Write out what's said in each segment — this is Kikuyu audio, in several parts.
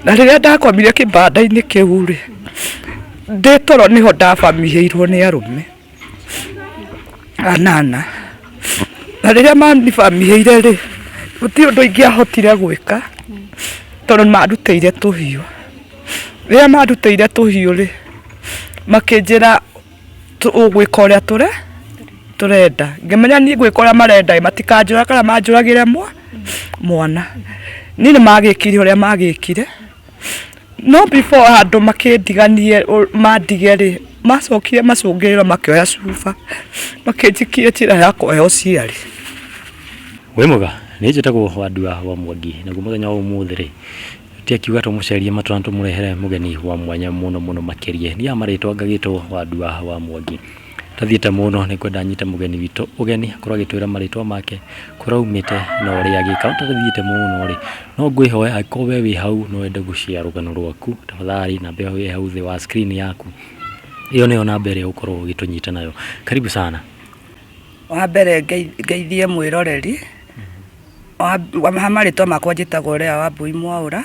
na rĩrĩa ndakomire kĩbanda-inĩ kĩu rĩ ndĩ toro nĩho ndabamihĩirwo nĩ arũme anana na rĩrĩa manibamihĩire rĩ gũtirĩ ũndũ ingĩahotire gwĩka tondũ marutĩire tũhiũ rĩrĩa marutĩire tũhiũ rĩ makĩnjĩra Tũgwĩka ũrĩa tũre tũrenda ngĩmenya niĩ ngwĩka ũrĩa marenda matikanjũra kana manjũragĩre mwa mwana niĩ nĩ magĩkire ũrĩa magĩkire no before andũ makĩndiganie mandige rĩ macokire macũngĩrĩra makĩoya cuba makĩnjikia njĩra ya kũoya ũciari. Wĩ mwega nĩ njĩtagwo Wandua wa Mwangi naguo mũthenya wa ũmũthĩ rĩ Ti akiuga tũmũcerie matũ na tũmũrehere mũgeni wa mwanya mũno mũno makĩrie. Thiaga marĩtwa ngagĩtwo wa ndua wa mwangi. Tathiĩte mũno nĩ kwenda nyite mũgeni witũ ũgeni akorwo agĩtwĩra marĩtwa make, kũrĩa aumĩte na ũrĩa agĩka. No tathiĩte mũno rĩ, no ngwĩhoe angĩkorwo we wĩ hau no wende gũ share rũgano rwaku, tafadhali namba ĩyo ĩ hau thĩ wa screen yaku, ĩyo nĩyo namba ĩrĩa ũgũkorwo ũgĩtũnyita nayo. Karibu sana. Wa mbere ngeithie mwĩroreri. Haha marĩtwa makwa njĩtagwo Lea Wambũi Mwaũra,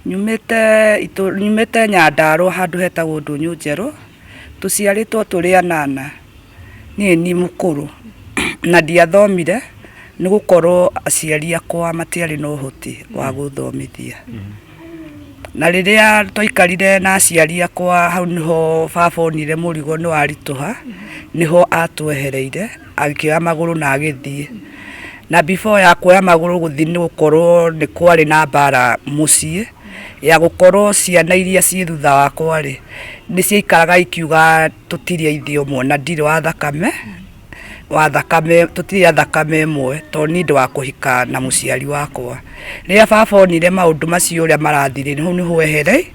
nyumĩte itũ- nyumĩte Nyandarũa handũ hetagwo Ndũnyũ Njerũ, tũciarĩtwo tũrĩ anana, niĩ nĩ mũkũrũ, na ndiathomire nĩ gũkorwo aciari akwa matiarĩ na ũhoti wa gũthomithia. Na rĩrĩa twaikarire na aciari akwa hau nĩho baba onire mũrigo nĩ waritũha, nĩho atwehereire. agĩkĩoya magũrũ na agĩthiĩ na before ya kuoya magũrũ gũthiĩ nĩ gũkorwo nĩ kwarĩ na mbara mũciĩ ya gũkorwo ciana iria ciĩ thutha wakwa rĩ nĩ ciaikaraga ikiuga tũtirĩ aithe ũmwe na ndirĩ wa thakame wa thakame tũtirĩ a thakame ĩmwe to nĩ ũndũ wa kũhika na mũciari wakwa rĩrĩa baba onire maũndũ macio ũrĩa marathirĩ hau nĩho ehere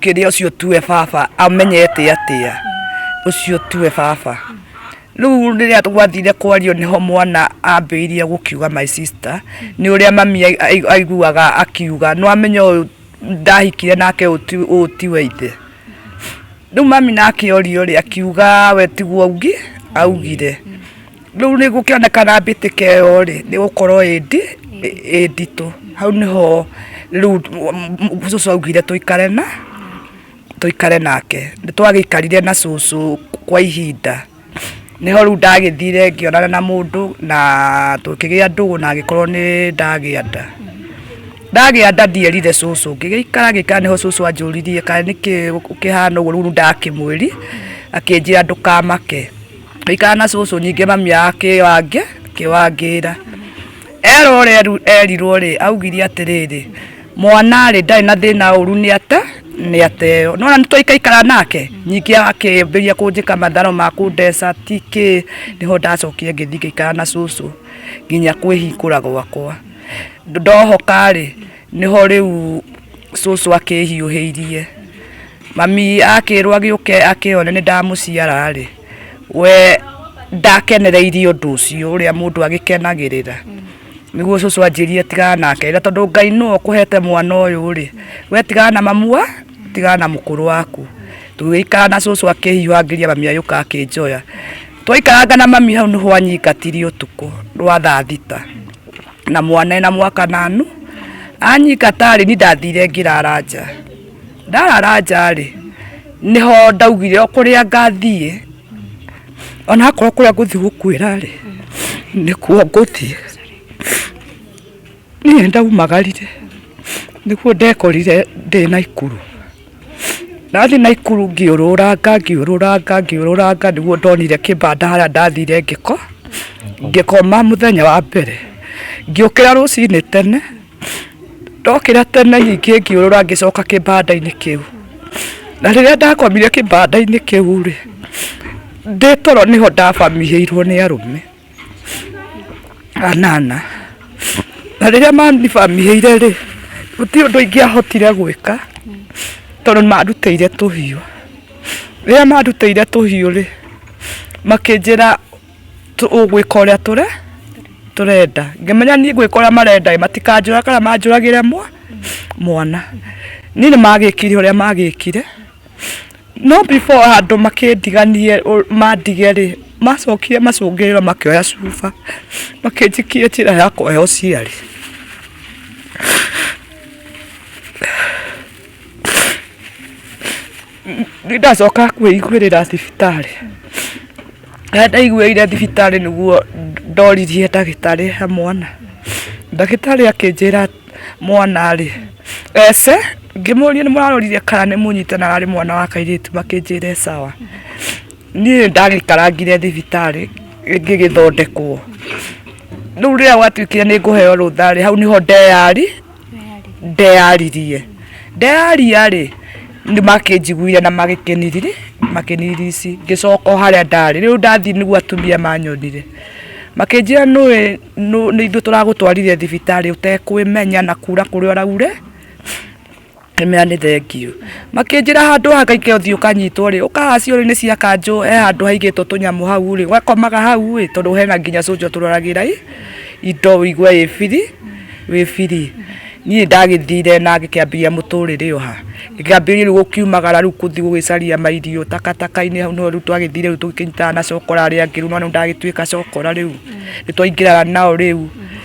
kĩrĩa ũcio tuwe baba amenyete atĩa ũcio tuwe baba rĩu rĩrĩa gwathire kwario nĩho mwana ambĩirie gũkiuga my sister nĩ ũrĩa mami ai- ai- aiguaga akiuga no amenya ũyũ ndahikire nake ũyũ ti- ũyũ ti wa ithe rĩu mami nake orio rĩ akiuga we tiguo augi augire rĩu nĩ gũkĩonekana mbĩtĩka ĩyo rĩ nĩ gũkorwo ĩndi ĩ nditũ hau nĩho rĩu cũcũ augire tũikare na tũikare nake nĩ twagĩikarire na cũcũ kwa ihinda nĩho rĩu ndagĩthire ngĩonana na mũndũ na tũkĩgĩa ndũgũ na agĩkorwo nĩ ndagĩa nda ndagĩa nda ndierire cũcũ ngĩgĩikara ngĩikara nĩho cũcũ anjũririe kana nĩkĩ ũkĩhana ũguo rĩu ndakĩmwĩri akĩnjĩra ndũkamake Aikara na cũcũ ningĩ mami akĩwangĩ akĩwangĩra erwo ũrĩa erirwo rĩ augire atĩrĩrĩ mwana rĩ ndarĩ na thĩna ũru nĩ ate nĩ ateo nona nĩ twaikaikara nake nyingĩ akĩambĩria kũnjĩka matharo ma kũndeca tikĩ nĩho ndacokire ngĩthiĩ ngĩikara na cũcũ nginya kwĩhingũra gwakwa ndohoka rĩ nĩho rĩu cũcũ akĩhiũhĩirie Mami akĩrwo agĩũke akĩone nĩ ndamũciara rĩ, we ndakenereirie ũndũ ũcio ũrĩa mũndũ agĩkenagĩrĩra niguo cucu anjĩrie tigana nake na tondũ ngai nĩwe ũkũhete mwana ũyũ rĩ we tigana na mamu tigana na mũkũrũ waku tũgĩikara na cucu akĩhiũhangĩria mami agĩũka akĩnjoya twaikaranga na mami hau nĩho anyingatire ũtukũ rwa thaa thita na mwana ena mwaka na nu anyingata rĩ ni ndathire ngĩrara nja ndarara nja rĩ nĩho ndaugire o kũrĩa ngathiĩ ona akorwo kũrĩa ngũthiĩ gũkuĩra rĩ nĩkuo ngũthiĩ niĩ ndaumagarire nĩguo ndekorire ndĩ naikuru ndathiĩ naikuru ngiũrũranga ngiũrũranga ngiũrũranga nĩguo ndonire kĩbanda harĩa ndathire ngĩko ngĩkoma mũthenya wa mbere ngĩũkĩra rũcinĩ tene Ndokĩra tene nyingĩ ngĩũrũra ngĩcoka kĩbanda-inĩ kĩu. Na rĩrĩa ndakomire kĩbanda-inĩ kĩu rĩ, ndĩ toro nĩho ndabamĩhĩirwo nĩ arũme anana. Na rĩrĩa manibamĩhĩire rĩ, gũtirĩ ũndũ ingĩahotire gwĩka tondũ nĩ mandutĩire tũhiũ. Rĩrĩa mandutĩire tũhiũ rĩ, makĩnjĩra... Ũgwĩka ũrĩa tũre tũrenda ngĩmenya niĩ ngwĩka ũrĩa marenda matikanjũra kana manjũragĩre mwana niĩ nĩ magĩkire ũrĩa magĩkire no before andũ makĩndiganie mandige rĩ macokire macũngĩrĩrwo makĩoya cuba makĩnjikia njĩra ya kũhe ũciari. nĩ ndacoka kwĩiguĩrĩra thibitarĩ harĩa ndaiguĩire thibitarĩ nĩguo ndoririe ndagĩtarĩ he mwana ndagĩtarĩ akĩnjĩra mwana rĩ ece ngĩmũria nĩ mũrarorire kana nĩ mũnyite na ararĩ mwana wa kairĩtu makĩnjĩra sawa niĩ ndagĩkarangire thibitarĩ ngĩgĩthondekwo rĩu rĩrĩa gwatuĩkire nĩ ngũheo rũtha rĩ hau nĩho ndeyari ndeyaririe ndeyaria rĩ nĩ makĩnjiguire na magĩkĩniriri makĩniririci ngĩcoka o harĩa ndarĩ rĩu ndathiĩ nĩguo atumia manyonire makĩnjĩra nũĩ nũ- nĩ ithuĩ tũragũtwarire thibitarĩ ũtekwĩmenya na kura kũrĩa ũraure Kĩmera nĩ thengiũ. Makĩnjĩra handũ haha ngaikare ũthiĩ ũkanyitwo rĩ, ũkaga ciũrĩ-inĩ cia kanjũ, he handũ haigĩtwo tũnyamũ hau rĩ, ũgakomaga hau ĩ, tondũ hena nginya cũnja ũtũroragĩra ĩ, indo ũigue wĩ biri, wĩ biri. Niĩ ndagĩthire na ngĩkĩambĩrĩria mũtũrĩre ĩyo ha, ngĩkĩambĩrĩria rĩu gũkiumagara rĩu gũthiĩ gũgĩcaria mairio takataka-inĩ hau nĩho rĩu twagĩthire rĩu tũgĩkĩnyitana na cokora arĩa angĩ rĩu nĩwona rĩu ndagĩtuĩka cokora rĩu, nĩtwaingĩraga nao rĩu.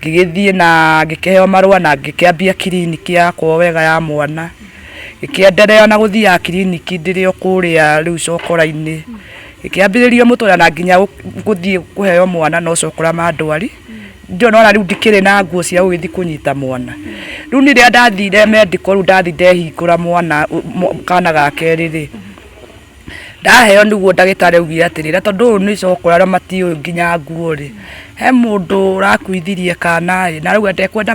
Ngĩgĩthiĩ na ngĩkĩheo marũa na ngĩkĩambia kiriniki yakwa wega ya mwana. Ngĩkĩenderea na gũthiaga kiriniki ndĩrĩ o kũrĩa rĩu cokora-inĩ. Ngĩkĩambĩrĩria mũtũrĩre na nginya gũthiĩ kũheo mwana no cokora mandwari. Ndio nĩ wona rĩu ndikĩrĩ na nguo cia gũgĩthiĩ kũnyita mwana. Rĩu niĩ rĩrĩa ndathire medical rĩu ndathi ndehingũra mwana kana ga kerĩ rĩ, ndaheo niguo ndagĩtarĩ augire atĩ rĩrĩa tondũ ũyũ nĩ coko arĩa matiũĩ nginya nguo rĩ he mũndũ ũrakuithirie kana rĩ na rĩu atekwenda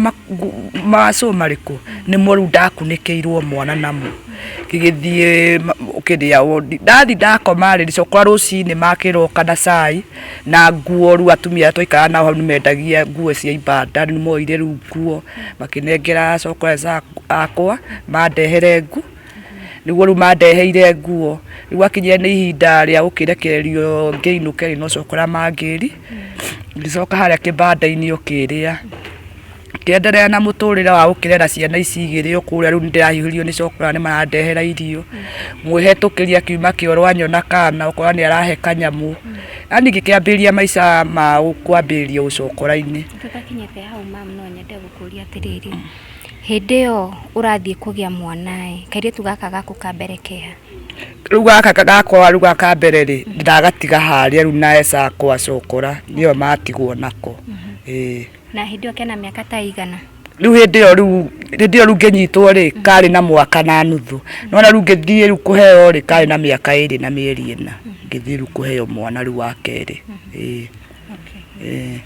macũ marĩkũ nĩmo rĩu ndakunĩkĩirwo mwana namo ngĩgĩthiĩ kĩrĩa wondi ndathi ndakoma rĩ cũkwa rũcinĩ makĩroka na cai na nguo rĩu atumia arĩa twaikaraga nao hau nĩmendagia nguo cia ibanda nĩmoire rĩu nguo makĩnengera cũkwa akwa mandehere nguo niguo riu mandeheire nguo riu akinyire ni ihinda ria gukirekererio ngiinuke ri no cokora mangiri ngicoka haria kibanda-ini ukiria ngienderea na muturire wa gukirera ciana ici igiri o kuria riu nindirahiuhirio ni cokora ni marandehera irio mwihitukiria akiuma kioro anyona kana ukona ni arahe kanyamu yani ngikiambiriria maica ma kwambiriria ucokora-ini. Tũtakinyĩte hau ma'am no nyende gũkũria atĩrĩrĩ, Hĩndĩ ĩyo ũrathiĩ kũgĩa mwana ĩ, kairĩtu gaka gaku ka mbere keha? Rĩu gaka gakwa rĩu gaka ka mbere rĩ, ndagatiga harĩa rĩu na Esau akwa cokora, nĩyo matigwo nako. Ĩĩ. Na hĩndĩ ĩyo kena mĩaka ta ĩigana? Rĩu hĩndĩ ĩyo rĩu hĩndĩ ĩyo rĩu ngĩnyitwo rĩ, karĩ na mwaka na nuthu. Nĩwona rĩu ngĩthiĩ rĩu kũheo rĩ, karĩ na mĩaka ĩrĩ na mĩeri ĩna. Ngĩthiĩ rĩu kũheo mwana rĩu wa kerĩ. Ĩĩ. Ĩĩ.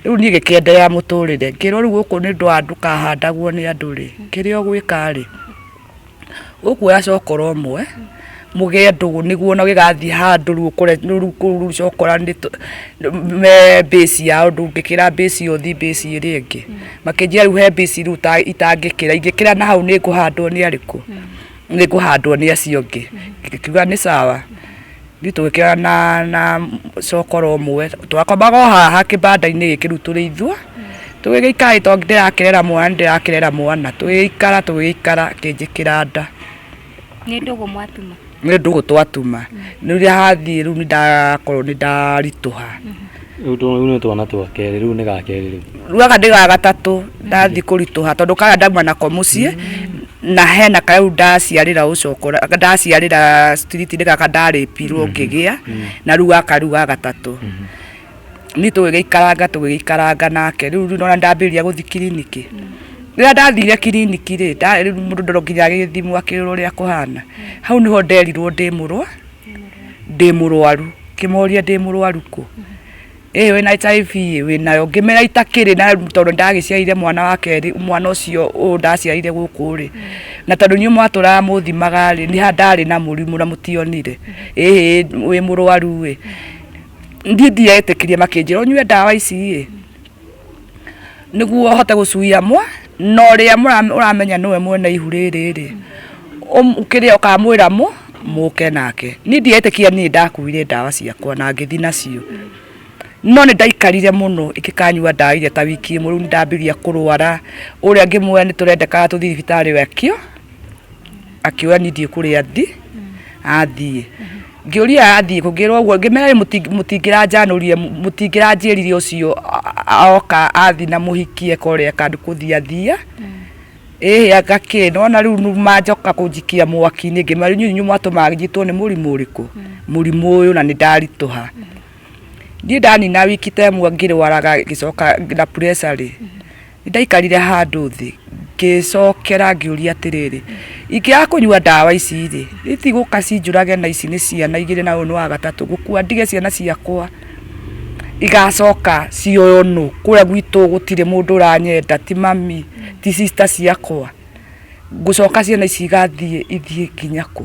rĩu niĩ gĩkĩenderea mũtũrĩre ngĩrwo rĩu gũkũ nĩ ndwa ndũkahandagwo nĩ andũ rĩ kĩrĩa ũgwĩka rĩ ũkuoya cokora ũmwe mũgĩe ndũgũ nĩguo ona gĩgathiĩ handũ rĩu ũkore rĩu kũu rĩu cokora nĩ tũ- nĩ- me base yao ndũngĩkĩra base ĩyo ũthi base ĩrĩa ĩngĩ makĩnjia rĩu he base rĩu ita- itangĩkĩra ingĩkĩra na hau nĩ ngũhandwo nĩ arĩkũ nĩ ngũhandwo nĩ acio angĩ ngĩkiuga nĩ sawa Ithuĩ tũgĩkĩra na na cokoro ũmwe twakomaga o haha kĩbanda-inĩ gĩkĩ rĩu tũrĩ ithua tũgĩgĩikara to ndĩrakĩrera mwana nĩ ndĩrakĩrera mwana tũgĩgĩikara tũgĩgĩikara akĩnjĩkĩra nda Nĩ ndũgũ mwatuma. nĩ ndũgũ twatuma rĩrĩa hathiĩ rĩu nĩ ndakorwo nĩ ndaritũha Rĩu tũ- rĩu nĩ twana twa kerĩ rĩu nĩ ga kerĩ rĩu ruaga ndĩ ga gatatũ ndathi kũritũha tondũ kaya ndauma nako mũciĩ na hena karĩa rĩu ndaciarĩra ũcokora ndaciarĩra street-inĩ gaka ndarĩpirwo ngĩgĩa na rĩu gaka rĩu ga gatatũ niĩ tũgĩgĩikaranga tũgĩgĩikaranga nake rĩu rĩu nona ndambĩrĩria gũthi kiriniki rĩrĩa ndathire kiriniki rĩ nda- rĩu mũndũ ndoro nginya agĩgĩthimwo akĩrorwo ũrĩa kũhana hau nĩho nderirwo ndĩ mũrwa ndĩ mũrwaru ngĩmoria ndĩ mũrwaru kũ ĩĩ wĩna HIV ĩ wĩnayo ngĩmera itakĩrĩ na tondũ ndagĩciarire mwana wa kerĩ mwana ũcio ũyũ ndaciarire gũkũ rĩ na tondũ inyuĩ mwatũraga mũthimaga rĩ nĩ ndarĩ na mũrimũ na mũtionire ĩĩ wĩ mũrwaru ĩ ndiĩ ndiretĩkirie makĩnjĩra ũnyue ndawa ici ĩ nĩguo ũhote gũcuia mwa na ũrĩa mũra- ũramenya nĩwe mwene ihu rĩrĩ rĩ ũm- kĩrĩa ũkamwĩra mũ mũke nake niĩ ndietĩkia niĩ ndakuire ndawa ciakwa na ngĩthi nacio no nĩ ndaikarire mũno ingĩkanyua ndawa iria ta wiki ĩmwe rĩu nĩ ndambĩria kũrwara ũrĩa ngĩmuoya nĩ tũrendekaga tũthiĩ thibitarĩ we akĩo akĩoya niĩ ndiĩ kũrĩa thi athiĩ Ngĩũria athiĩ kũ, ngĩrwo ũguo, ngĩmera rĩ mũti- mũtingĩranjanũrire, mũ- mũtingĩranjĩrire ũcio a- a- oka athi na mũhikie kore kandũ kũthiathia ĩhĩ anga kĩ nona rĩu nu- manjoka kũnjikia mwaki-inĩ ngĩmera rĩu inyuĩ mwatũmaga njitwo nĩ mũrimũ ũrĩkũ mũrimũ ũyũ na nĩndaritũha niĩ ndanina wiki temwe ngĩrwaraga ngĩcoka na pressure rĩ Ndaikarire handũ thĩ ngĩcokera ngĩũria atĩrĩrĩ ingĩaga kũnyua ndawa ici rĩ itigũka cinjũrage na ici nĩ ciana igĩrĩ na ũyũ nĩ wa gatatũ gũkua ndige ciana ciakwa igacoka cioyo nũ kũrĩa gwitũ gũtirĩ mũndũ ũranyenda ti mami ti sister ciakwa ngũcoka ciana ici igathiĩ ithiĩ nginya kũ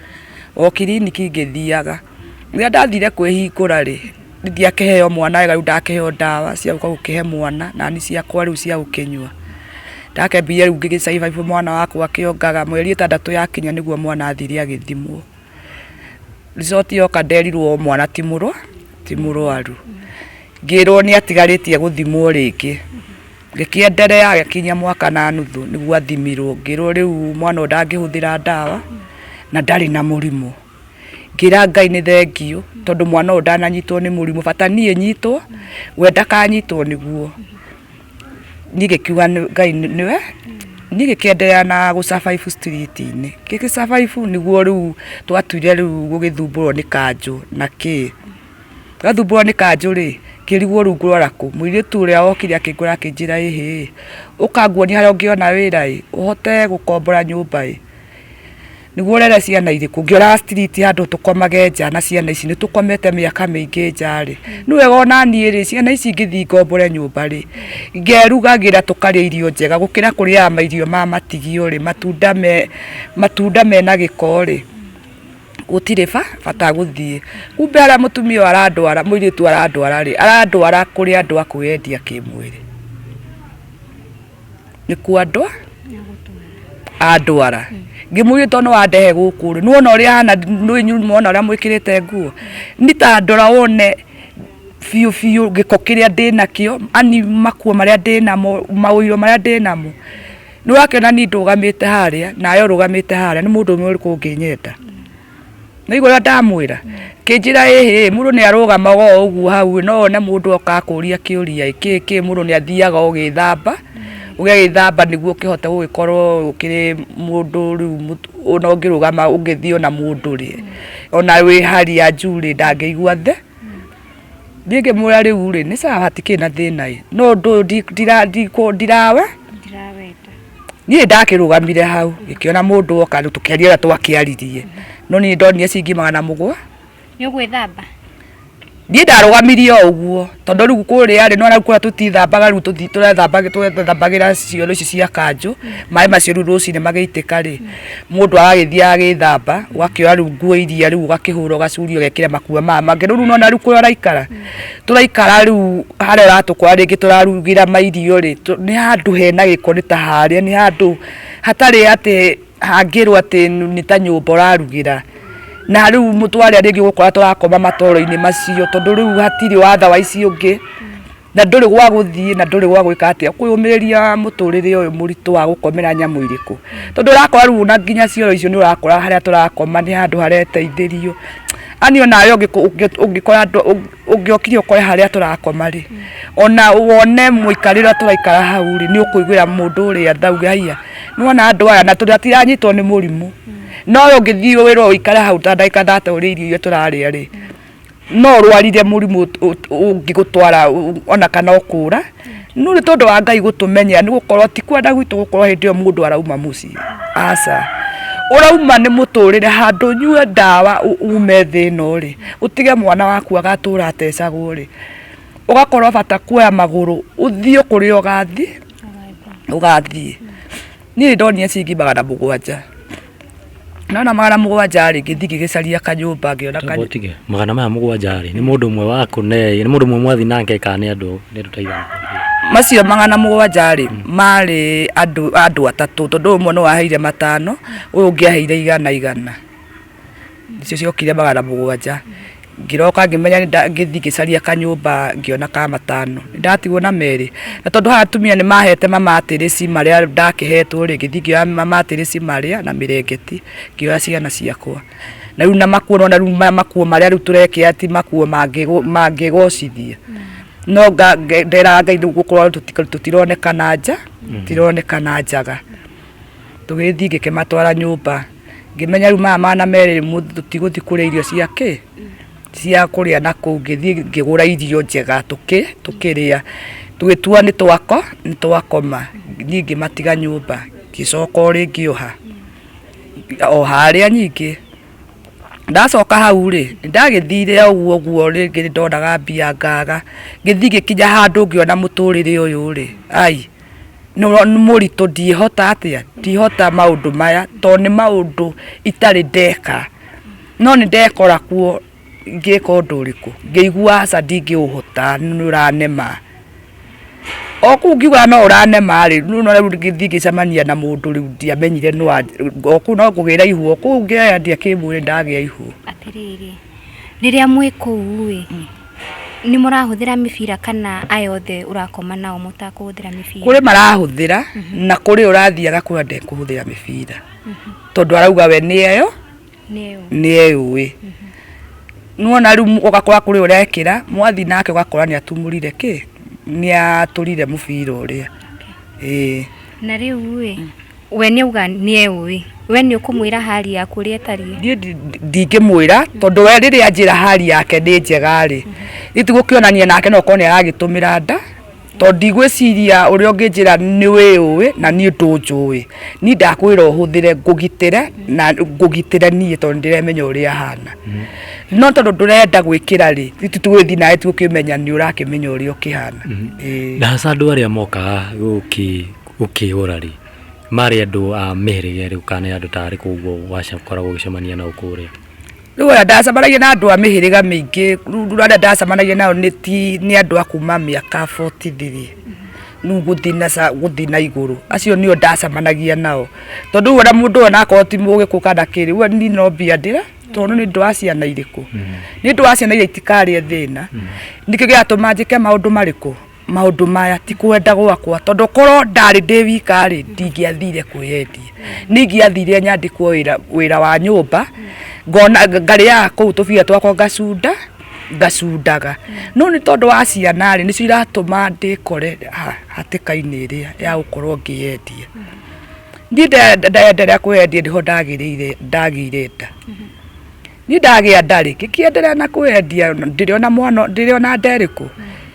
o kiriniki ngĩthiaga rĩrĩa ndathire kwĩhingũra rĩ ndiakĩheo mwana wega rĩu ndakĩheo ndawa cia gũka gũkĩhe mwana na ni ciakwa rĩu cia gũkĩnyua ndakembire rĩu ngĩgĩcaibaibwo mwana wakwa akĩongaga mweri ĩtandatũ yakinya nĩguo mwana athire agĩthimwo result yoka nderirwo mwana ti mũrwa ti mũrwaru ngĩrwo nĩ atigarĩtie gũthimwo rĩngĩ Ngĩkĩenderea agĩkinyia mwaka na nuthu nĩguo athimirwo, ngĩrwo rĩu mwana ũyũ ndangĩhũthĩra ndawa na ndarĩ na mũrimũ. Ngĩra Ngai nĩ thengiũ tondũ mwana ũyũ ndananyitwo nĩ mũrimũ, bata niĩ nyitwo, we ndakanyitwo nĩguo. Niĩ ngĩkiuga Ngai nĩwe, niĩ ngĩkĩenderea na gũ survive street inĩ. Ngĩgĩ survive nĩguo rĩu twatuire rĩu gũgĩthumbũrwo nĩ kanjũ na kĩĩ. Ngathumbũrwo nĩ kanjũ-rĩ, ngĩrigwo rungu rwara kũ? Mũirĩtu ũrĩa wokire akĩngora akĩnjĩra ĩhĩ-ĩ, ũka nguonie harĩa ũngĩona wĩra-ĩ, ũhote gũkombora nyũmba-ĩ, nĩguo ũrere ciana irĩkũ? Ngĩoraga street handũ tũkomage nja na ciana ici, nĩtũkomete mĩaka mĩingĩ nja-rĩ, nĩ wega o na niĩ-rĩ, ciana ici ingĩthiĩ ngombore nyũmba-rĩ, ngerugagĩra tũkarĩa irio njega gũkĩra kũrĩaga mairio ma matigio-rĩ, matunda me, matunda mena gĩko-rĩ. gũtirĩ bata gũthiĩ kumbe arĩa mũtumia ũyũ arandwara mũirĩtu arandwara rĩ arandwara kũrĩ andũ a kwĩyendia kĩmwĩrĩ nĩkuo andũ andwara ngĩmwĩria tondũ nĩwandehe gũkũ rĩ nĩwona ũrĩa hana nĩũĩ nyuma wona ũrĩa mwĩkĩrĩte nguo nĩ ta ndora wone biũ biũ gĩko kĩrĩa ndĩnakĩo ani makuo marĩa ndĩnamo maũiro marĩa ndĩnamo nĩ wakĩona niĩ ndũgamĩte harĩa nawe ũrũgamĩte harĩa nĩ mũndũ ũmwe ũrĩkũ ũngĩnyenda naigua ũrĩa ndamwĩra kĩnjĩra ĩhĩ mũndũ nĩ arũgamaga o ũguo hau no one mũndũ oka akũria kĩũria kĩ kĩ mũndũ nĩ athiaga ũgĩthamba ũgĩgĩthamba nĩguo ũkĩhote gũgĩkorwo ũkĩrĩ mũndũ rĩu mũtu- ona ũngĩrũgama ũngĩthiĩ ona mũndũ rĩ ona wĩ harĩa njurĩ ndangĩigua the Niĩ ngĩmwĩra rĩu rĩ nĩ sawa hatikĩrĩ na thĩna ĩ no ndũ ndi- ndira- ndikũ- ndirawe ndirawenda niĩ ndakĩrũgamire hau ngĩkĩona mũndũ woka rĩu tũkĩaria ũrĩa twakĩaririe no niĩ ndonire ciringi magana mũgwa nĩ ũgwĩthamba niĩ ndarũgamirie o ũguo tondũ rĩu kũrĩa rĩ nona kũrĩa tũtithambaga rĩu tũthi- tũrethambaga- tũrethambagĩra cioro ici cia kanjũ maĩ macio rĩu rũcinĩ magĩitĩka rĩ mundu agagithia agithamba ugakioya riu nguo iria riu ugakihura ugacuri ugekira makua maya mangi riu nona riu kuria uraikara turaikara riu haria uratukora ringi turarugira mairio ri ni handu hena giko ni ta haria ni handu hatari ati hangirwo ati ni ta nyumba urarugira na riu mutware ringi ugukora turakoma matoro-ini macio tondu riu hatiri watha wa ici ungi na ndũrĩ gwa gũthiĩ na ndũrĩ gwa gwĩka atĩa kũyũmĩrĩria mũtũrĩre ũyũ mũritũ wa gũkomera nyamũ irĩkũ tondũ ũrakora rĩu na nginya cioro icio nĩ ũrakora harĩa tũrakoma nĩ handũ hareteithĩrio ani ona we ũngĩko- ũngĩ- ũngĩkora andũ ũng- ũngĩokire ũkore harĩa tũrakoma rĩ ona wone mũikarĩre ũrĩa tũraikara hau rĩ nĩ ũkũiguĩra mũndũ ũrĩa thauge haiya nĩwona andũ aya na tondũ hatiranyitwo nĩ mũrimũ no we ũngĩthiĩ wĩrwo ũikare hau ta ndagĩka thate ũrĩe irio iria tũrarĩa rĩ no ũrwarire mũrimũ ũngĩgũtwara ona kana ũkũra no nĩ tondũ wa ngai gũtũmenyera nĩ gũkorwo ti kwenda gwitũ gũkorwo hĩndĩ ĩyo mũndũ arauma mũciĩ aca ũrauma nĩ mũtũrĩre handũ nyue ndawa ume thĩ ĩno rĩ ũtige mwana waku agatũra atecagwo rĩ ũgakorwo bata kuoya magũrũ ũthiĩ kũrĩa ũgathiĩ ũgathiĩ niĩ ndonire ciringi magana mũgwanja Nona magana mũgwanja rĩ ngĩthiĩ ngĩgĩcaria kanyũmba ngĩona kanyũmba Botige, magana maya mũgwanja rĩ, nĩ mũndũ ũmwe wakũ ne, nĩ mũndũ ũmwe mwathi nake kana nĩ andũ nĩ andũ ta aigana? macio magana mũgwanja rĩ marĩ andũ andũ atatũ tondũ ũmwe nĩ waheire matano ũyũ ũngĩ aheire igana igana. nĩcio ciokire magana mũgwanja ngĩroka ngĩmenya ngĩthiĩ ngĩcaria kanyũmba ngĩona ka matano ndatigwo na merĩ na tondũ haha atumia nĩ mahete mamatĩrĩci marĩa ndakĩhetwo rĩ ngĩthiĩ ngĩoya mamatĩrĩci marĩa na mĩrengeti ngĩoya ciana ciakwa na rĩu na makuo nona rĩu maya makuo marĩa rĩu tũrekĩa ti makuo mangĩgũ- mangĩgocithia no nga- nge- ndera ngai nĩ gũkorwo tũti- tũtironekana nja tũtironekana njaga tũgĩthiĩ ngĩkĩmatwara nyũmba ngĩmenya rĩu maya mana merĩ tũtigũthiĩ kũrĩa irio cia kĩ cia kũrĩa na kũu ngĩthiĩ ngĩgũra irio njega tũkĩ tũkĩrĩa tũgĩtua nĩ twako nĩ twakoma niĩ ngĩmatiga nyũmba ngĩcoka o rĩngĩ oha o harĩa nyingĩ ndacoka hau rĩ ndagĩthire ũguo ũguo rĩngĩ ndonaga mbia ngaga ngĩthiĩ ngĩkinya handũ ngĩona mũtũrĩre ũyũ rĩ ai mũritũ ndihota atĩa ndihota maũndũ maya tondũ nĩ maũndũ itarĩ ndeka no nĩ ndekora kuo ngĩka ũndũ ũrĩkũ ngĩigua aca ndingĩũhota nĩ ũranema o kũu ngiugaga no ũranema rĩ rĩu no rĩu ngĩthiĩ ngĩcemania na mũndũ rĩu ndiamenyire no o kũu no kũgĩra ihu o kũu ngĩoya ndiakĩmwĩrĩ ndagĩa ihu. Atĩrĩrĩ rĩrĩa mwĩ kũu ĩ Nĩ mũrahũthĩra mĩbira kana aya othe ũrakoma nao mũtakũhũthĩra mĩbira? Kũrĩ marahũthĩra na kũrĩ ũrathiaga kũrĩa ndekũhũthĩra mĩbira tondũ arauga we nĩ eyo nĩ eyũĩ. Nĩwona rĩu ũgakora kũrĩ ũrekĩra mwathiĩ nake ũgakora nĩ atumũrire kĩ, nĩ atũrire mũbira ũrĩa. Na rĩu ĩ we nĩ auga nĩ eũĩ we nĩ ũkũmwĩra hali yaku ũrĩa ĩtariĩ niĩ ndi- ndi- ndingĩmwĩra tondũ we rĩrĩa njĩra hali yake nĩ njega rĩ itigũkĩonania nake no korwo nĩ aragĩtũmĩra nda tondũ ndigwĩciria ũrĩa ũngĩnjĩra nĩ wĩũĩ na niĩ ndũnjũĩ niĩ ndakwĩra ũhũthĩre ngũgitĩre na ngũgitĩre niĩ tondũ ndĩremenya ũrĩa hana no tondũ ndũrenda gwĩkĩra rĩ titũgĩthiĩ nawe tũkĩmenya nĩ ũrakĩmenya ũrĩa ũkĩhana Ĩĩ. na haca andå arä a mokaga gå kä Gũkĩũra rĩ, marĩ andũ a mĩhĩrĩga ĩrĩkũ kana nĩ andũ ta arĩkũ ũguo wakoragwo ũgĩcemania nao kũrĩa? Rĩu ũrĩa ndacemanagia na andũ a mĩhĩrĩga mĩingĩ, rĩu arĩa ndacemanagia nao nĩ ti, nĩ andũ a kuma mĩaka forty three rĩu gũthiĩ na gũthiĩ na igũrũ. Acio nĩo ndacemanagia nao. Tondũ rĩu ona mũndũ onakorwo ti mũgĩkũyũ kana kĩ rĩ, rĩu niĩ no mbia ndĩre tondũ nĩ ũndũ wa ciana irĩkũ? Nĩ ũndũ wa ciana irĩa itikarĩe thĩna. Nĩkĩo gĩatũma njĩke maũndũ marĩkũ? maundu maya ti kwenda gwakwa tondu korwo ndari ndi wika ri ndingiathire kwiyendia ningiathire nyandikwo wira wira wa nyumba ngona ngariaga kuu tubia twakwa ngacunda ngacundaga no ni tondu wa ciana ri nicio iratuma ndikore ha- hatika-ini iria ya gukorwo ngiyendia ni ndaenderea kwiyendia niho ndagirire ndagire nda ni ndagä a ndarä ngä kä enderea na kwendia ndä rä ona mwana ndä rä ona nderä kå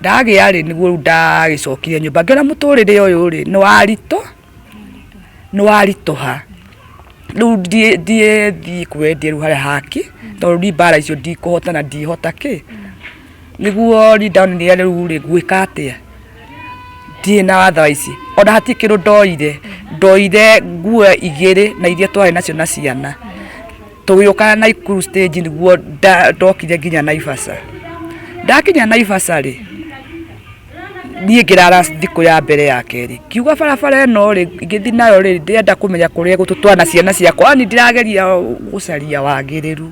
ndagĩa rĩ nĩguo rĩu ndagĩcokire nyũmba ngĩona mũtũrĩre ũyũ rĩ nĩ waritũ nĩ waritũha rĩu ndiĩ ndiĩ thiĩ kwendie rĩu harĩa haki tondũ rĩu mbara icio ndikũhota na ndihota kĩ nĩguo rĩu ndonire rĩu rĩ ngwĩka atĩa ndirĩ na watha ici ona hatirĩ kĩndũ ndoire ndoire nguo igĩrĩ na iria twarĩ nacio na ciana tũgĩũka Naikuru stage nĩguo nda- ndokire nginya Naivasha ndakinya Naivasha rĩ niĩ ngĩrara thikũ ya mbere ya kerĩ kiuga barabara ĩno rĩ ngĩthi nayo rĩ ndĩrenda kũmenya kũrĩa gũtũtwana ciana ciakwa ani ndĩrageria gũcaria wagĩrĩru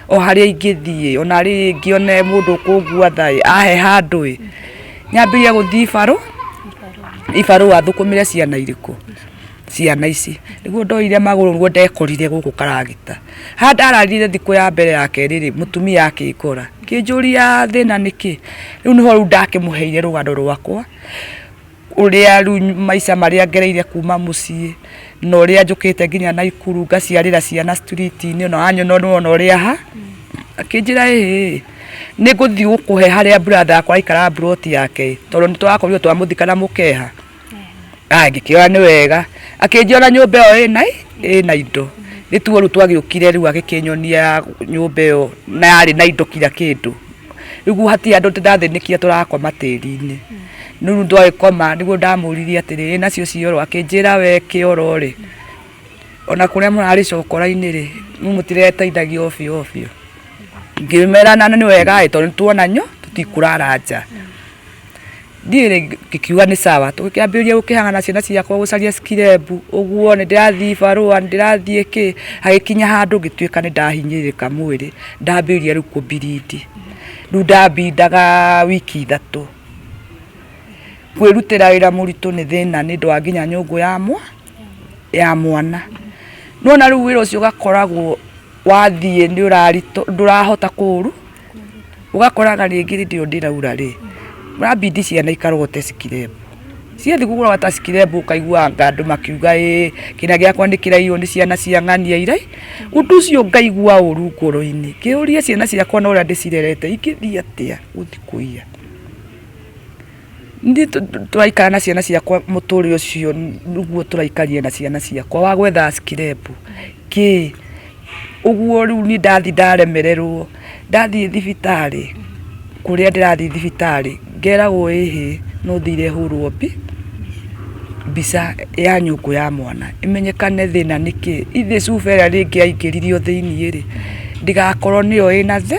o harĩa ingĩthiĩ ona rĩ ngĩone mũndũ ũkũngua tha ĩ, ahe handũ ĩ nyambĩrĩria gũthiĩ ibarũ ibarũ athũkũmĩre ciana irĩkũ ciana ici niguo ndoire maguru niguo ndekorire guku karagita ha ndararire thiku ya mbere ya keri ri mutumia akikora kinjuria thina niki riu niho riu ndakimuheire rugano rwakwa uria riu maica maria ngereire kuma mucii na uria njukite nginya na ikuru ngaciarira ciana street ini ona anyona ona uria ha akinjira ii niguthii gukuhe haria brother yakwa aikara broti yake tondu nitwakorirwo twamuthika na mukeha Ah, ngĩkĩona nĩ wega akĩnjĩra nyũmba ĩyo ĩna ĩna indo nĩ tuo rĩu twagĩũkire rĩu agĩkĩnyonia nyũmba ĩyo na yarĩ na indo kira kĩndũ rĩu hatirĩ andũ ndĩrathĩnĩkire tũrakoma tĩri-inĩ rĩu nĩ twagĩkoma nĩguo ndamũririe atĩrĩ "Ĩ nacio cioro akĩnjĩra we kĩoro rĩ ona kũrĩa mũrarĩ cokora-inĩ rĩ rĩu mũtireteithagia o biũ o biũ ngĩmera na nĩ wega ĩ tondũ nĩ tuona nyo tũtikũrara nja. Ndiĩ rĩ ngĩkiuga nĩ sawa tũkĩambĩrĩria gũkĩhang'ana na ciana ciakwa gũcaria skirembu ũguo nĩ ndĩrathiĩ ibarũa nĩ ndĩrathiĩ kĩ hagĩkinya handũ ngĩtuĩka nĩ ndahinyĩrĩrĩka mwĩrĩ ndambĩrĩria rĩu kũbirindi rĩu ndabindaga wiki ithatũ kwĩrutĩra wĩra mũritũ nĩ thĩna nĩ ũndũ wa nginya nyũngũ ya mwa ya mwana nona rĩu wĩra ũcio ũgakoragwo wathiĩ nĩ ũraritũ ndũrahota kũũru ũgakoraga rĩngĩ rĩndĩ ĩyo ndĩraura rĩ ũrabindi ciana ikarogote cikirembu ciathiĩ kũgũra wata cikirembu ũkaiguanga andũ makiuga ĩ kĩna gĩakwa nĩ kĩraiywo nĩ ciana cia ng'ania irai ũndũ ũcio ngaigua ũru ngoro-inĩ ngĩyũria ciana ciakwa na ũrĩa ndĩcirerete ingĩthiĩ atĩa gũthiĩ kũiya Nĩ tũraikara na ciana ciakwa mũtũrĩre ũcio nĩguo tũraikarire na ciana ciakwa wa gwetha skirepu kĩ ũguo rĩu niĩ ndathi ndaremererwo ndathiĩ thibitarĩ kũrĩa ndĩrathiĩ thibitarĩ ngeragwo ĩhĩ no thiire hũrwo mbica ya nyũngũ ya mwana ĩmenyekane thĩna nĩ kĩ ithĩ cuba ĩrĩa rĩngĩ yaingĩririo thĩinĩ rĩ ndĩgakorwo nĩyo ĩna thĩ.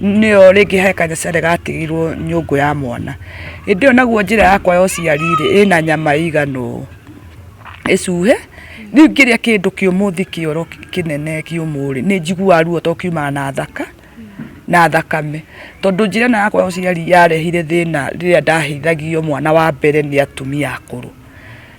nĩyo rĩngĩ he kanyacare gatigirwo nyũngũ ya mwana hĩndĩ ĩyo naguo njĩra yakwa ya ũciari rĩ ĩna nyama igana ũũ ĩcuhe rĩu ngĩrĩa kĩndũ kĩũmũ thi kĩoro kĩnene kĩũmũ rĩ nĩ njiguaga ruo to kiumaga na thaka na thakame tondũ njĩra ĩno yakwa ya ũciari yarehire thĩna rĩrĩa ndahĩithagio mwana wa mbere nĩ atumia akũrũ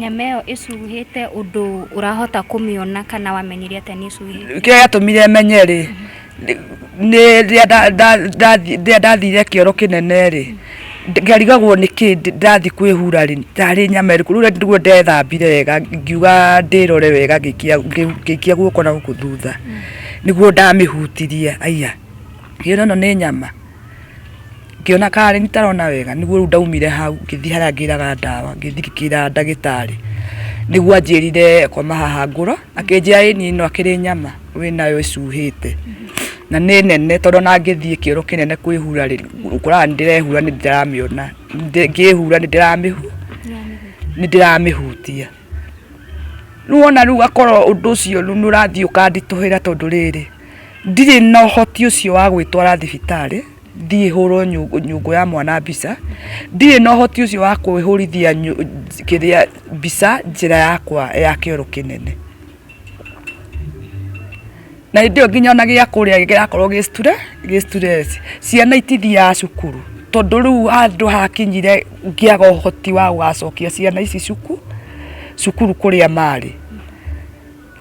Nyama ĩyo ĩcuhĩte ũndũ ũrahota kũmĩona kana wamenyire atĩa nĩ ĩcuhĩte? Kĩrĩa gĩatũmire menye rĩ, nĩ rĩrĩa ndathire kĩoro kĩnene rĩ, ngarigagwo nĩ kĩ ndathiĩ kwĩhura rĩ, ndarĩ nyama ĩrĩkũ. Rĩu nĩguo ndethambire wega ngiuga ndĩrore wega ngĩikia guoko na gũkũ thutha, nĩguo ndamĩhutirie aiya ngĩona ĩno nĩ nyama. Ngĩona karĩ nĩ tarona wega nĩguo rĩu ndaumire hau ngĩthiĩ harĩa ngĩraga ndawa ngĩthiĩ ngĩkĩra ndagĩtarĩ nĩguo anjĩrire koma haha ngũrũ akĩnjĩra ĩ niĩ no akĩrĩ nyama wĩ nayo ĩcuhĩte na nĩ nene tondũ ona ngĩthiĩ kĩoro kĩnene kwĩhura rĩ ũkoraga nĩ ndĩrehura nĩ ndĩramĩona ngĩhura nĩ ndĩramĩhutia rĩu wona rĩu akorwo ũndũ ũcio rĩu nĩ ũrathiĩ ũkanditũhĩra tondũ rĩrĩ ndirĩ na ũhoti ũcio wa gwĩtwara thibitarĩ thiĩ hũrwo nyũngũ ya mwana mbica ndirĩ na ũhoti ũcio wa kwĩhũrithia kĩrĩa mbica njĩra yakwa ya kĩoro kĩnene na hĩndĩ ĩyo nginya ona gĩa kũrĩa gĩgakorwo gĩ sture gĩ stress ciana itithiaga cukuru tondũ rĩu handũ hakinyire ngĩaga ũhoti wa gũgacokia ciana ici cuku cukuru kũrĩa marĩ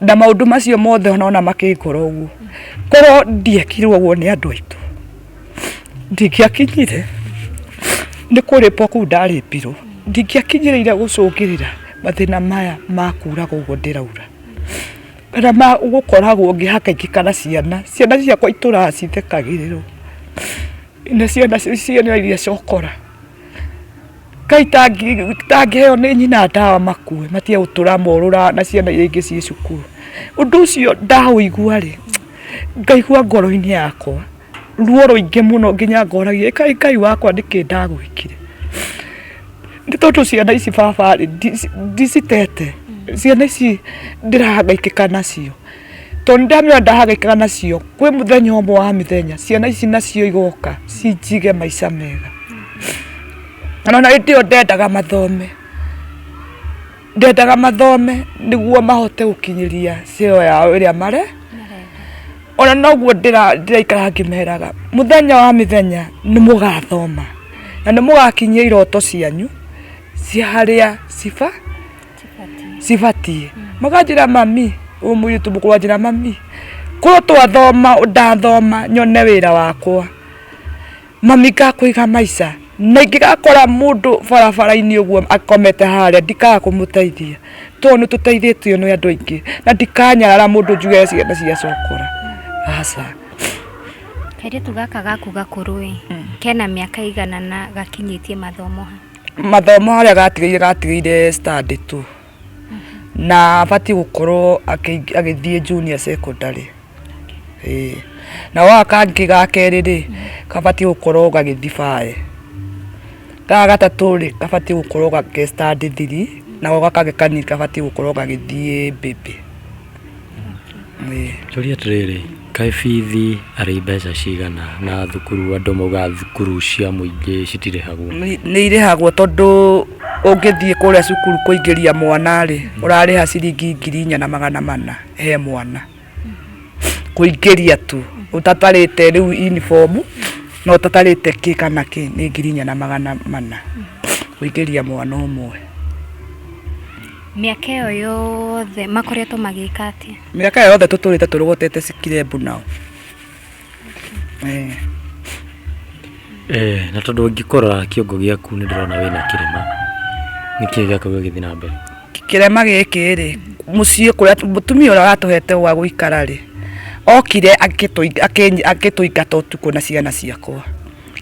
na maũndũ macio mothe ona makĩngora ũguo korwo ndiekirwo ũguo nĩ andũ aitũ ndingĩakinyire nĩ kũrĩpwo kũu ndarĩpirwo ndingĩakinyĩrĩire gũcũngĩrĩra mathĩna maya makuraga ũguo ndĩraura kana ma gũkoragwo ngĩhaka ingĩ kana ciana ciana ciakwa itũraga cithekagĩrĩrwo nĩ ciana ciana iria cokora. Kai tangĩheo nĩ nyina ndawa makue matige gũtũra morũra na ciana iria ingĩ ciĩ cukuru. Ũndũ ũcio ndaũigua rĩ, ngaigua ngoro-inĩ yakwa ruo rũingĩ mũno nginya ngoragia ĩ kaĩ Ngai wakwa nĩkĩ ndagwĩkire. Nĩ tondũ ciana ici baba rĩ ndicitete, ciana ici ndĩrahangaikĩka nacio. Tondũ nĩ ndamenya ndahang'aikaga nacio, kwĩ mũthenya ũmwe wa mĩthenya ciana ici nacio igoka cinjige maica mega. Ona na hĩndĩ ĩyo ndendaga mathome, ndendaga mathome nĩguo mahote gũkinyĩria cio yao ĩrĩa mare, ona noguo ndĩraikara ngĩmeraga mũthenya wa mĩthenya nĩ mũgathoma na nĩ mũgakinyia iroto cianyu cia harĩa ciba... cibatiĩ makanjĩra mami ũyũ mũirĩtu mũkũrũ anjĩra mami korwo twathoma ndathoma nyone wĩra wakwa mami ngakũiga maica na ingĩgakora mũndũ barabara-inĩ ũguo akomete harĩa ndikaga kũmũteithia tondũ nĩ tũteithĩtio nĩ andũ aingĩ na ndikanyarara mũndũ njuge ciana cia cokora aca kairĩtu gaka gaku gakũrũ ĩ kena mĩaka igana na gakinyĩtie mathomo ha mathomo harĩa gatigĩire gatigĩire standĩ tu na abatiĩ gũkorwo agĩthiĩ junior secondary na gaka kangĩ ga kerĩ rĩ gabatiĩ gũkorwo gagĩthiĩ bae gaka gatatũ rĩ gabatiĩ gũkorwo ge standĩ thiri nako gaka kangĩ kanini gabatiĩ gũkorwo gagĩthiĩ baby. Njũria atĩrĩrĩ, kaĩ bithi arĩ mbeca cigana na thukuru andũ maugaga thukuru cia mũingĩ citirĩhagwo? Nĩ irĩhagwo tondũ ũngĩthiĩ kũrĩa cukuru kũingĩria mwana rĩ, ũrarĩha ciringi ngiri inya na magana mana he mwana, kũingĩria tu, ũtatarĩte rĩu uniform na ũtatarĩte kĩ kana kĩ, nĩ ngiri inya na magana mana kũingĩria mwana ũmwe. Mĩaka ĩyo yothe makoretwo magĩka atĩa? Mĩaka ĩyo yothe tũtũrĩte tũrogotete cikirebu nao. Eh. Eh, na tondũ ngĩkora kĩongo gĩaku nĩ ndĩrona wĩna kĩrema nĩ kĩĩ gĩaku gĩgĩthiĩ na mbere kĩrema gĩkĩ rĩ mũciĩ kũrĩa mũtumia ũrĩa ũratũhete gwa gũikara rĩ okire akĩtũingata ũtukũ na ciana ciakwa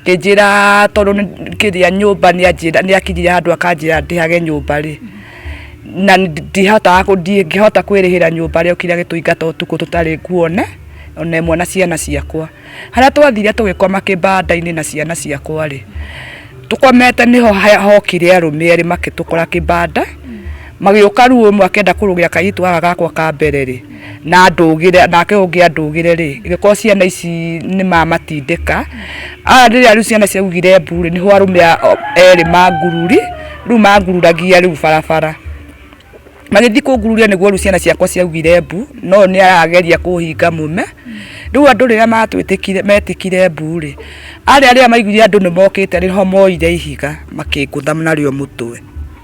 Ngĩnjĩra tondũ kĩrĩa nyũmba nĩ akinyire handũ akanjĩra ndĩhage nyũmba rĩ, na ndingĩhota kwĩrĩhĩra nyũmba rĩ, okire agĩtũingata ũtukũ tũtarĩ nguona ona ĩmwe na ciana ciakwa. Harĩa twathire tũgĩkoma kĩbanda-inĩ na ciana ciakwa rĩ, tũkomete nĩho hokire arũme erĩ magĩtũkora kĩbanda, magĩũka rũĩ ũmwe akĩenda kũrũgĩra kairĩtu gaka gakwa ka mbere rĩ, na ndũgire nake ũngĩ andũgire rĩ gĩkorwo ciana ici nĩ mamatindĩka a rĩrĩa rĩu ciana ciaugire mbu rĩ nĩho arũme erĩ mangururi rĩu mangururagia rĩu barabara magĩthiĩ kũngururia nĩguo rĩu ciana ciakwa ciaugire mbu no nĩ arageria kũhinga mume rĩu andũ rĩrĩa matwĩtĩkire metĩkire mbu rĩ arĩa rĩrĩa maiguire andũ nĩ mokĩte rĩho moire ihiga makĩngũtha narĩo mũtwe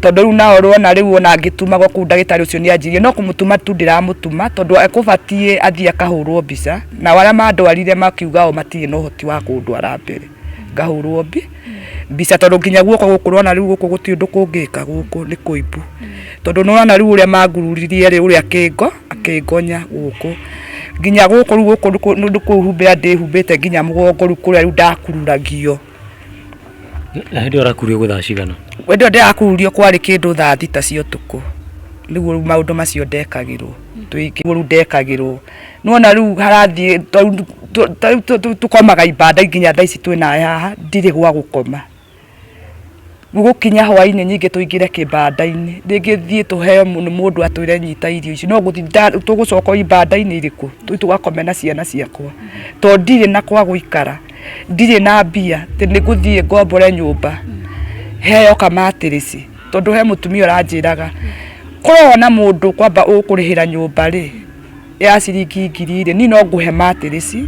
tondũ rĩu nao rwona rĩu ona angĩtumagwo kũu ndagĩtarĩ ũcio nĩ anjirie no kũmũtuma tu ndĩramũtuma tondũ ekũbatiĩ athiĩ akahũrwo mbica na arĩa mandwarire makiuga o matirĩ na ũhoti wa kũndwara mbere ngahũrwo mbi mbica tondũ nginya guoko gũkũ rwona rĩu gũkũ gũtirĩ ũndũ kũngĩka gũkũ nĩ kũimbu tondũ nĩwona rĩu ũrĩa mangururirie rĩ ũrĩa kĩngo akĩngonya gũkũ nginya gũkũ rĩu gũkũ nĩ kũhumbĩra ndĩhumbĩte nginya mũgongo rĩu kũrĩa rĩu ndakururagio Na hĩndĩ ĩyo ũrakurio gwĩ thaa cigana? Hĩndĩ ĩyo ndĩrakururio kwarĩ kĩndũ thaa thita cia ũtukũ rĩu rĩu maũndũ macio ndekagĩrwo tũingĩ rĩu ndekagĩrwo nona rĩu harathiĩ tondũ tũ- tũ- tũ- tũ- tũkomaga ibanda nginya thaa ici twĩnawe haha ndirĩ gwa gũkoma gũkinya hwainĩ nyingĩ tũingĩre kĩbanda-inĩ rĩngĩ thiĩ tũheo nĩ mũndũ atwĩre nyita irio ici no gũthinda tũgũcoka o ibanda-inĩ irĩkũ tũi tũgakome na ciana ciakwa to ndirĩ na kwa gũikara ndirĩ na mbia atĩ nĩ gũthiĩ ngombore nyũmba heo kamatĩrĩci tondũ he mũtumia ũranjĩraga korwo na mũndũ kwamba ũkũrĩhĩra nyũmba rĩ ya ciringi ngiri rĩ niĩ no ngũhe matĩrĩci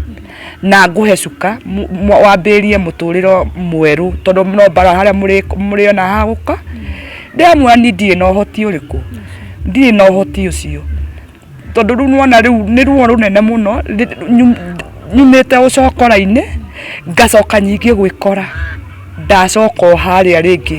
na ngũhe cuka mu- mu- wambĩrĩrie mũtũrĩro mwerũ tondũ no mbara harĩa mũrĩ- mũrĩona hagũka ndĩramwĩra niĩ ndirĩ na ũhoti ũrĩkũ ndirĩ na ũhoti ũcio tondũ rĩu nĩwona rĩu nĩ ruo rũnene mũno rĩ- nyu- nyumĩte ũcokora-inĩ ngacoka nyingĩ gwĩkora ndacoka o harĩa rĩngĩ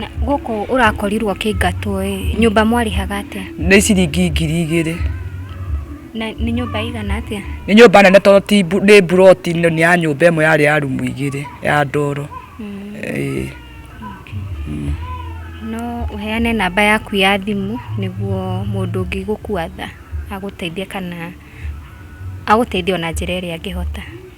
Na gũkũ ũrakorirwo ũkĩingatwo ĩ, nyũmba mwarĩhaga atĩa? nĩ ciringi ngiri igĩrĩ Na nĩ nyũmba ĩigana atĩa? nĩ nyũmba nene tondũ ti mbu- nĩ mburoti nĩ nĩ ya nyũmba ĩmwe yarĩ ya rumu igĩrĩ ya ndoro Ĩĩ. No ũheane namba yaku ya thimũ nĩguo mũndũ ũngĩ gũkwatha agũteithie kana agũteithie ona njĩra ĩrĩa angĩhota.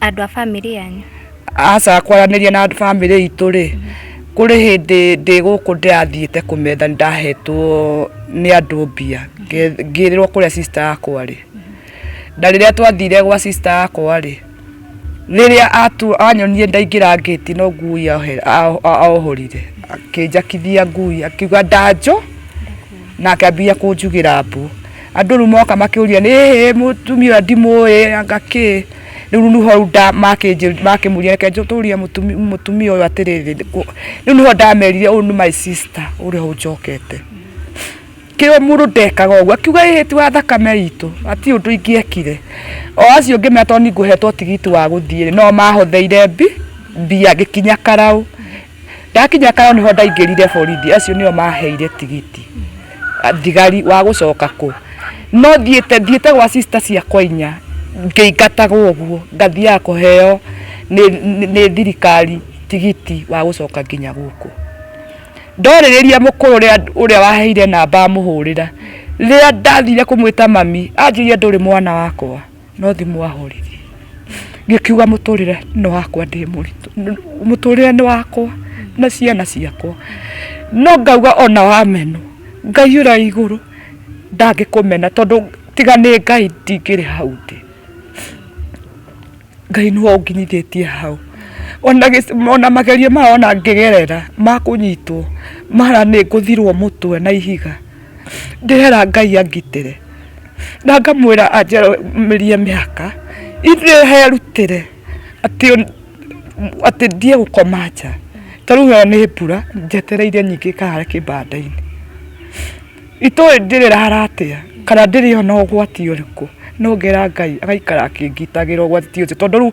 Andũ a bamĩrĩ yanyu? Aca kwaranĩria na bamĩrĩ itũ rĩ, kũrĩ hĩndĩ ndĩ gũkũ ndĩrathiĩte kũmetha nĩ ndahetwo nĩ andũ mbia ngĩrĩrwo kũrĩa sister yakwa rĩ, na rĩrĩa twathire gwa sister yakwa rĩ, rĩrĩa anyonire ndaingĩra ngĩti no ngui ahohorire akĩnjakithia ngui akiuga ndanjũ na akĩambia kũnjugĩra mbu. Andũ rĩu moka makĩũria nĩ hĩĩ mũtumia ũyũ ndimũĩ anga kĩ? rä u nĩho nda makĩnjĩ- makĩmũria reke njũtũrie mũtumi- mũtumia ũyũ atĩrĩrĩ rĩ kũ- rĩu nĩho ndamerire ũyũ nĩ my sister ũrĩa ũnjokete kä må ndå ndekaga å guo akiuga ä ti wa thakame itå ati å ndå ingĩekire o acio ngä mera tondå ningå hetwo tigiti wa gå thiä no mahotheire mbi mbia ngä kinya karaå ndakinya karo niho ndaingirire borithi acio nio maheire tigiti thigari wa gucoka ku no thiite thiite gwa sister ciakwa inya ngĩingatagwo ũguo ngathiaga kũheo nĩ thirikari tigiti wa gũcoka nginya gũkũ ndorĩrĩria mũkũrũ ũrĩa waheire namba amũhũrĩra rĩrĩa ndathire kũmwĩta mami anjĩria ndũrĩ mwana wakwa no thimũ ahũririe ngĩkiuga mũtũrĩre nĩ wakwa ndĩ mũritũ mũtũrĩre nĩ wakwa na ciana ciakwa no ngauga ona wameno ngai ũrĩa igũrũ ndangĩkũmena tondũ tiga nĩ ngai ndingĩrĩ hau ndĩ ngai nĩwe ũnginyithĩtie hau ona gĩc- ona magerio maya ona ngĩgerera makũnyitwo mara nĩ ngũthirwo mũtwe na ihiga ndĩrera ngai angitĩre na ngamwĩra anjarĩrie mĩhaka ithe herutĩre atĩ atĩ ndie gũkoma nja ta rĩu ĩyo nĩ mbura njetereire nyingĩ kahara kĩbanda-inĩ itoĩ ndĩrĩrara atĩa kana ndĩrĩ ona ũgwati ũrĩkũ no ngera ngai agaikara akĩngitagĩra ũgwati ũcio tondũ rĩu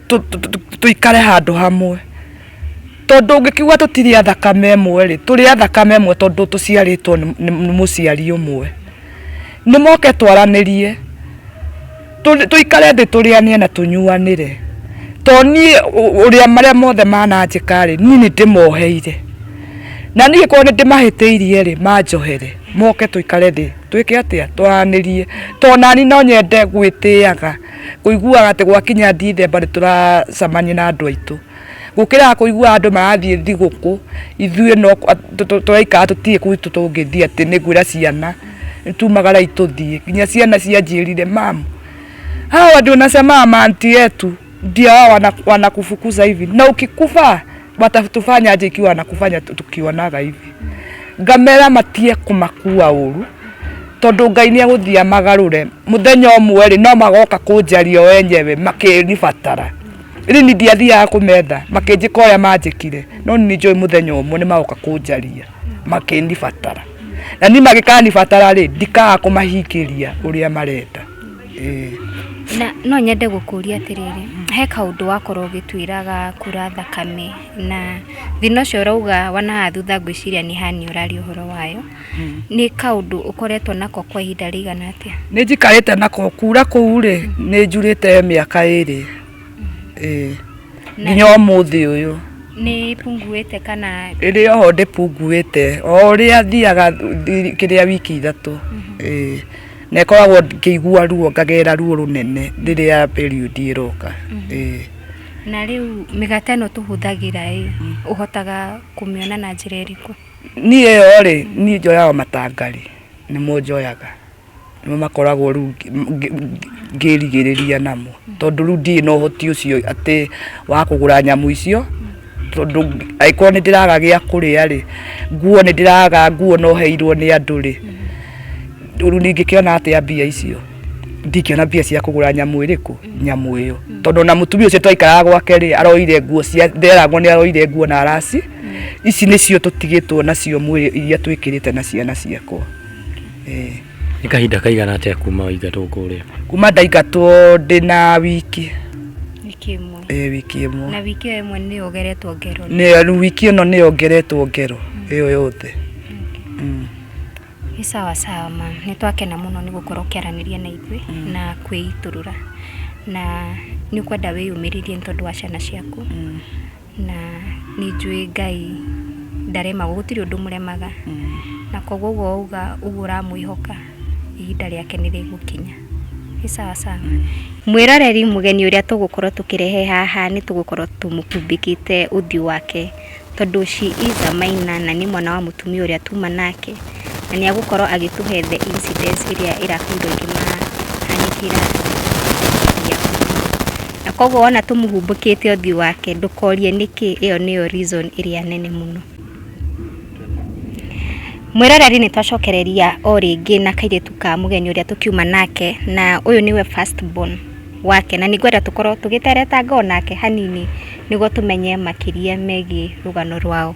tũikare handũ hamwe tondũ ũngĩkiuga tũtirĩ a thakame ĩmwe rĩ tũrĩ a thakame ĩmwe tondũ tũciarĩtwo nĩ mũciari ũmwe nĩ moke twaranĩrie tũikare thĩ tũrĩanĩre na tũnyuanĩre to niĩ ũrĩa marĩa mothe mananjĩka rĩ niĩ nĩ ndĩmoheire na niĩ korwo nĩ ndĩmahĩtĩirie rĩ manjohere moke tũikare thĩ twĩke atĩa twaranĩrie to nani no nyende gwĩtĩaga Kũiguaga atĩ gwakinya Dithemba nĩ tũracamania na andũ aitũ. Gũkĩraga kũigua andũ marathiĩ thigũkũ, ithuĩ no tũraikara tũtirĩ kũu tũngĩthiĩ atĩ nĩ ngwĩra ciana nĩ tumagara itũthiĩ. Nginya ciana cianjĩrire mamu, hawa ndio nasema amanti yetu ndio hawa wanakufukuza hivi na ukikufa watatufanya aje ikiwa wanakufanya tu- tukionaga hivi ngamera matie kumakua uru tondu ngai nä egåthia magarå muthenya ũmwe rĩ no magoka kũnjaria o enyewe makĩnibatara rä ni ndiathiaga kå metha makĩnjĩka ũrĩa manjĩkire no nĩ njũĩ mũthenya ũmwe nĩ magoka kũnjaria makĩnibatara na ni magĩkanibatara rĩ ndikaga kũmahingĩria ũrĩa marenda Na no nyende gũkũria atĩrĩrĩ, he kaũndũ wakorwo ũgĩtwĩra ga kura thakame, na thĩna ũcio ũrauga wa na haha thutha ngwĩciria nĩ hernia ũraria ũhoro wayo, nĩ kaũndũ ũkoretwo nako kwa ihinda rĩigana atĩa? Nĩ njikarĩte nako, kura kũu rĩ, nĩ njurĩte mĩaka ĩrĩ, ĩĩ, nginya ũmũthĩ ũyũ. Nĩ ĩpunguĩte kana? Ĩrĩ o ho ndĩpunguĩte, o ũrĩa thiaga kĩrĩa wiki ithatũ, ĩĩ. na ĩkoragwo ngĩigua ruo ngagerera ruo rũnene rĩrĩa period ĩroka ĩĩ na rĩu mĩgate ĩno tũhũthagĩra ĩ ũhotaga kũmĩona na njĩra ĩrĩkũ niĩ ĩyo rĩ niĩ njoyaga matanga rĩ nĩmo njoyaga nĩmo makoragwo rĩu ngĩ- ngĩ- ngĩ- ngĩrigĩrĩria namo tondũ rĩu ndirĩ na ũhoti ũcio atĩ wa kũgũra nyamũ icio tondũ angĩkorwo nĩ ndĩraga gĩa kũrĩa rĩ nguo nĩ ndĩraga nguo no heirwo nĩ andũ rĩ rĩu ningĩkĩona atĩa mbia icio ndingĩona mbia cia kũgũra nyamũ ĩrĩkũ nyamũ ĩyo tondũ na mũtumia ũcio twaikaraga gwake rĩ aroire nguo cia nderagwo nĩ aroire nguo na arasi ici nĩcio tũtigĩtwo nacio mwĩrĩ iria twĩkĩrĩte na ciana ciakwa eh. Nĩ kahinda kaigana atĩa kuma waingatwo kũrĩa? Kuma ndaingatwo ndĩ na wiki wiki ĩmwe ĩ wiki ĩmwe na wiki ĩyo ĩmwe nĩ yogeretwo ngero nĩ rĩu wiki ĩno nĩ yongeretwo ngero ĩyo yothe Mm. nĩ sawa sawa ma nĩ twakena mũno nĩ gũkorwo ũkĩaranĩria na ithuĩ na kwĩitũrũra na nĩ ũkwenda wĩyumĩrĩrie nĩ tondũ wa ciana ciaku Na nĩ njũĩ Ngai ndaremagwo, gũtirĩ ũndũ ũmũremaga. Na koguo ũguo wauga, ũguo ũramwĩhoka, ihinda rĩake nĩ rĩgũkinya. Nĩ sawa sawa. Mwĩroreri, mũgeni ũrĩa tũgũkorwo tũkĩrehe haha nĩ tũgũkorwo tũmũkumbĩkĩte ũthiũ wake, tondũ she is a minor na nĩ mwana wa mũtumia ũrĩa tuma nake. na nĩ agũkorwo agĩtũhe the incidents ĩrĩa ĩrakorirwo ĩkĩmũhanĩkĩra na koguo wona tũmũhumbũkĩte ũthiũ wake ndũkorie nĩkĩ ĩyo nĩyo reason ĩrĩa nene mũno mwĩroreri nĩ twacokereria o rĩngĩ na kairĩtu ka mũgeni ũrĩa tũkiuma nake na ũyũ nĩwe first born wake na nĩ ngwenda tũkorwo tũgĩteretanga o nake hanini nĩguo tũmenye makĩria megiĩ rũgano rwao.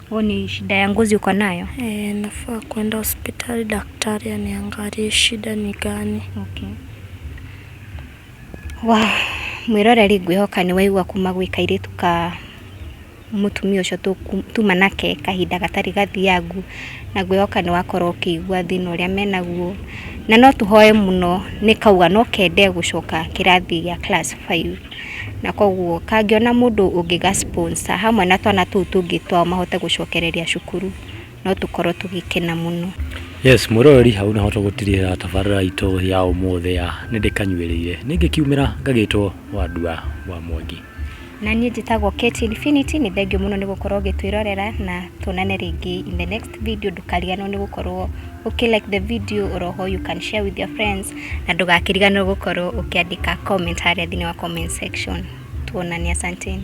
Huo ni shida ya ngozi uko nayo? E, nafaa kwenda hospitali daktari aniangalie shida ni gani. Okay. Wa mwiroreri ngwĩhoka nĩ waigua kuma gwĩ kairĩtu ka mũtumia ũcio tũku- tuma nake kahinda gatarĩ gathiangu na ngwĩhoka nĩ wakorwo ũkĩigua thĩna ũrĩa menaguo na no tũhoe mũno nĩ kauga no kende gũcoka kĩrathi gĩa class five. na koguo kangĩona mũndũ ũngĩ ga sponsor hamwe na twana tũu tũngĩ twao mahote gũcokereria cukuru no tũkorwo tũgĩkena mũno. Yes, mwĩroreri hau nĩho tũgũtigĩrĩra tabarĩra itũ ya ũmũthĩ ya nĩndĩkanyuĩrĩire nĩngĩkiumĩra ngagĩtwo wa ndua wa Mwangi. Na niĩ njĩtagwo Kate Infinity, nĩ thengiũ mũno nĩ gũkorwo ũgĩtwĩrorera na tuonane rĩngĩ in the next. video ndũkariganĩrwo nĩ gũkorwo ũkĩ like the video or how you can share with your friends na ndũgakĩriganĩrwo gũkorwo ũkĩandĩka comment harĩa thĩinĩ wa comment section tuonane asanteni